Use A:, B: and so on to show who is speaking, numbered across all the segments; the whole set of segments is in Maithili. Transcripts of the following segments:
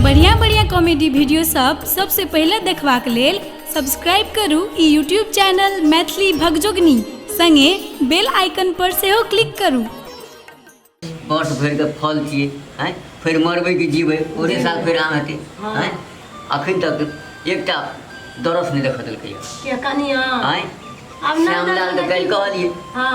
A: बढ़िया बढ़िया कॉमेडी वीडियो सब सबसे पहले देखबाक लेल सब्सक्राइब करू ई यूट्यूब चैनल मैथिली भगजोगनी संगे बेल आइकन पर सेहो क्लिक करू
B: वर्ष भरि के फल छियै आँय फेर मरबै कि जीबै ओहे साल फेर आम हेतै आँय अखन तक एकटा दरस नहि देखऽ देलकैए के कनिया
C: आँय
B: आब ना श्यामलाल
C: तऽ काल्हि कहलियै
B: हाँ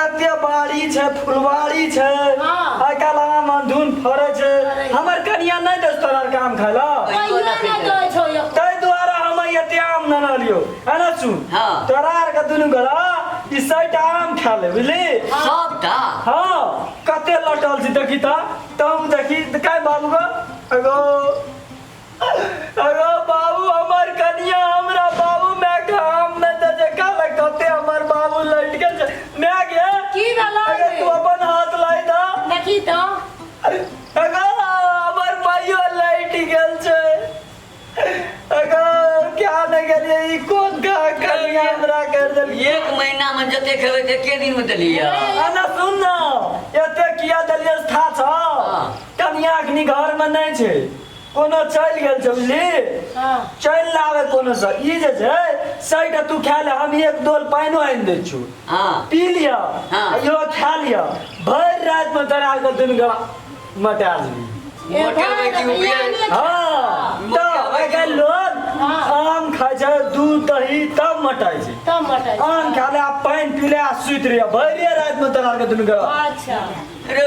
D: एते बाड़ी छै फुलवाड़ी छै हाँ। एकर अलावा मंधुन फड़े छै फड़ै छै। हमर कनिया नहीं दस तोरा काम खाय ला कहियो ना दै छौ एको। ताहि दुआरे हम एते आम न रहलियो है ना सुन हाँ। तोरा आर के दुनू गोरा ई सैटा आम खा ले बुझली सबटा
B: हाँ
D: कते लटल छी देखी ता तब देखी काय बाबू गो एगो अरे बाबू हमर कनिया हमरा बाबू मैं काम में दे दे काल कते हमर बाबू लट के जा- मैं गे की भेलो अरे
C: तू अपन हाथ
D: लाई दा देखी तो अरे हमर भाइयो लट गेल छै अरे क्या न गेलिए ई कोन का कनिया हमरा कर देल एक महीना में
B: जते खेबै ते के दिन में देलियै अना सुन ना
D: एते किया देलिए था छ हाँ। कनिया अखनी घर में नहीं छै कोनो चलि गेल छै बुझली हँ चलि लाबे कोनो सँ ई जे छै सैटा तू खा ले हम एक डोल पानिओ आनि दै छियौ हँ पी लिअ हँ।
B: आ
D: इहो खा लिअ भरि रातिमे तोरा के दुनू गला मटा लेबी मोटे भाई की
B: उबिया हाँ, तो
D: अगर लोग हाँ। आम खाए छै दूध दही तब मटाए छै तब मटाइ आम खा
C: ले आ पानि
D: पी ले आ सुति रहिए भरिए रातिमे तोरा आरके दुनू गला अच्छा रे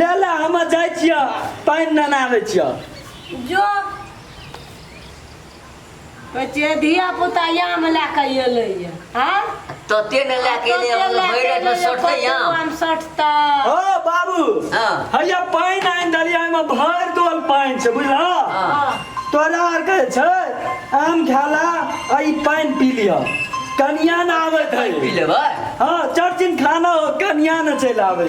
D: ले ले हम जाइ छिय पानि नेने आबै छिय जो कहै
C: छियै धिया पुता याम लए कऽ एलैए
B: आँ तते ने लए के ले तते लए भरि राति के मे एलैए, सटतै कते
C: आम आम सटतै ओ बाबू
D: हँ। हैया
B: पानि
D: आनि देलियै एहिमे भरि दोल पानि छै बुझलह हँ। तोरा आरके जे छै आम खाला आ ई पानि पी लिह कनिया ने आबैत है पी लेबै हँ
B: चर्चिन
D: खाना हो कनिया ने चलि आबै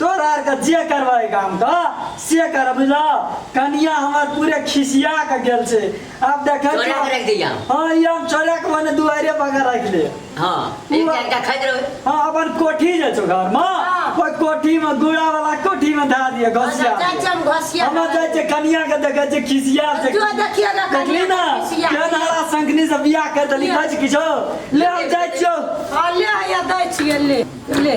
D: तोरा
B: आरके जे
D: करबै एहि गामके से कर बुझलऽ कनिया हमर पूरे खिसिया के गेल छै आब देखै चोरा के रख दिया
B: हाँ ई हम चोरा के
D: मने दुआरे बगैर रख ले हाँ एक
B: बार का खैद रहो हाँ अपन कोठी
D: जे छौ घर में हाँ। ओहि कोठी
C: में
D: गुड़ा वाला कोठी में धा दिए घसिया जाइ छै हम घसिया हम
C: जाइ छै कनिया
D: के देखै छै खिसिया छै तू देखिए ना देखली
C: ना खिसिया।
D: केहन हरा संकनी से बियाह कर देली बज किछो ले हम जाइ छियौ हाँ ले आया
C: दै छियै ले ले